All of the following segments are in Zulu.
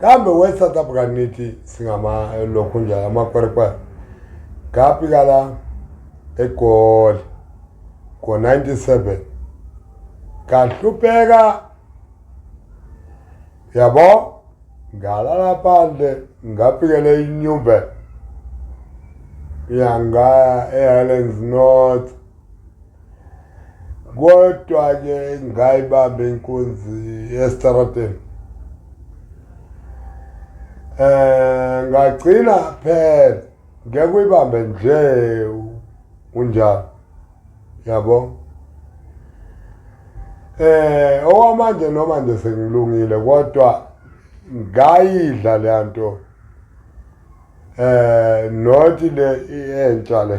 kambe we south africa nithi singama eh, lokhu njalo amakwerekwere ngafika la egoli ngo-97 ngahlupheka yabo ngalala phandle ngafikele inyumbe yangaya ehighlands north kodwa-ke ngayibamba inkunzi esitarateni eh ngagcina phela ngeke uyibambe nje unjalo yabo eh owamanje noma nje sengilungile kodwa ngayidla le nto eh not le entsha le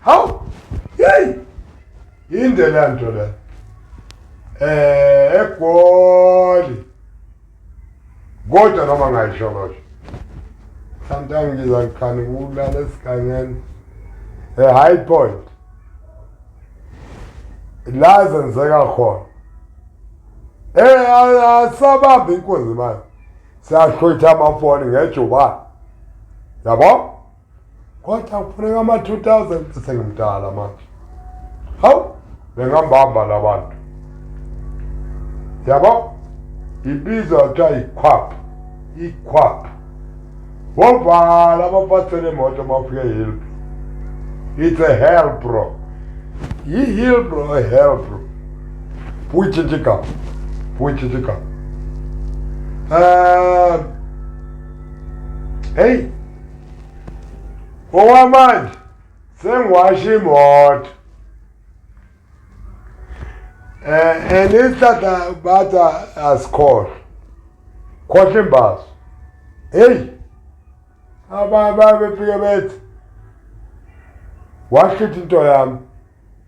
Hawu! Hey! Inde la nto la. Eh, egoli. Kodwa noma ngayisho kodwa. Sometimes ngiza ngikhani kulala esigangeni. A high point. La zenzeka khona. Eh, asabambe inkunzi manje. Siyashwetha amafoni ngejubane. Yabo? kodwa kufuneka ama-2000 sengimdala manje hawu bengambamba labantu yabo ibizwa kuthiwa yikhwap ikhwap wovala abaphathele imoto bafike hilbro it's a hell bro yi-hilbro a hell bro buyitshintshe igama buyitshintshe igama um heyi Ngokwamanje sengiwasha imoto. Eh and isihlahla batha asikhohle. Khohle imbazo. Hey. Aba bafike bethi washithi into yami.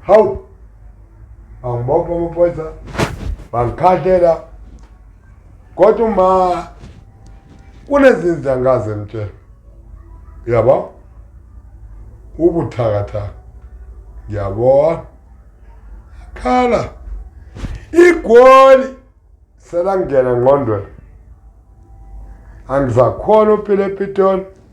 Hawu! Bangibopha amaphoyisa, bangikhahlela. Kodwa uma kunezinto angikaze ngitshele. Uyabo? Ubuthakathaka. Ngiyabona. Khala. Igoli selangena ngqondweni. Angizakhona uphile ePitoli.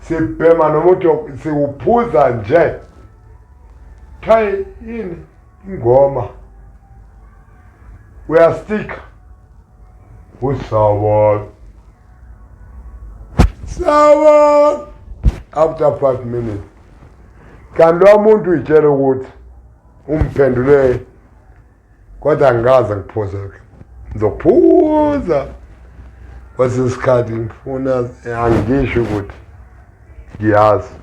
sibhema nomuthi siwuphuza nje thayi yini ingoma uyastika usawon sawon after five minutes kanti lomuntu uyitshela ukuthi umphendule Kodwa angikaze ngiphuze ke. Ngizophuza. Kwesinye isikhathi ngifuna angisho ukuthi ngiyazi.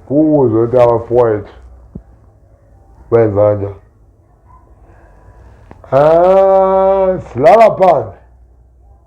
Kuwuze ukuthi abafowethu benza kanjani. Ah, silala phansi.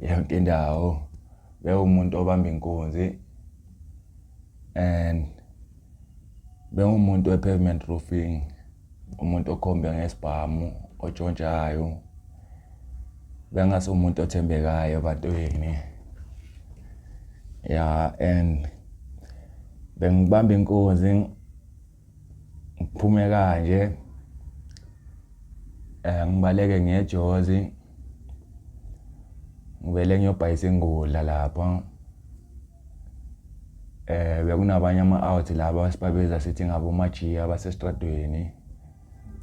yonke indawo bewumuntu obamba inkunzi and bengumuntu we-pavement roofing umuntu okhombe ngesibhamu otshontshayo bengasomuntu othembekayo ebantwini ya and bengibamba inkunzi ngiphume kanje eh ngibaleke ngejozi ngivele ngiyobhayisa ingudla lapho eh bekunabanye ama-out laba sibabiza sithi ngabo majiya abasesitradweni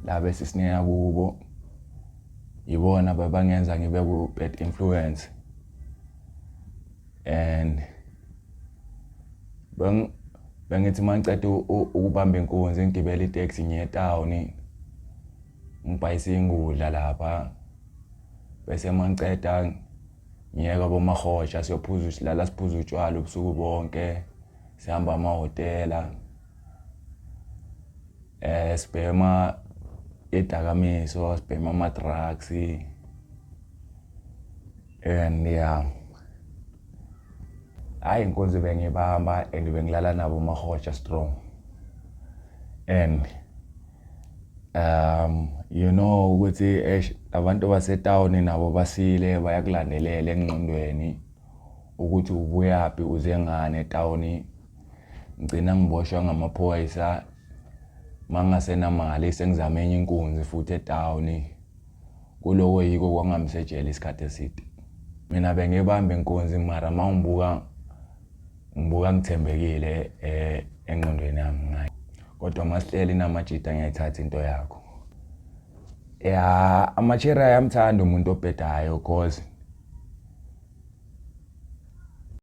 laba esisineya kubo yibona babangenza ngibe ku-bad influence and bengithi uma ngiceda ukubamba inkunzi ngigibela iteksi ngiye etawuni ngibhayise ingudla lapha bese uma ngiceda ngiyeka bomahoja siyophuza silala siphuza utshwala ubusuku bonke sihamba amahhotela eh sibhema idakamiso sibhema ama-drugs and yeah hayi inkunzi bengibamba and bengilala nabo umahotsha strong and um you know ukuthi eish abantu basetown nabo basile bayakulandelela enqondweni ukuthi ubuyaphi uze ngane etown ngcina ngiboshwa ngamaphoyisa mangasenamali sengizame enye inkunzi futhi etown Kuloko yiko kwangamisa ejele isikhathi eside. Mina bengibamba inkunzi mara mawungibuka ngibuka ngithembekile eh, engqondweni yami ngayo. Kodwa masihleli namajita ngiyayithatha into yakho. Ya amachera ayamthanda umuntu obhedayo cause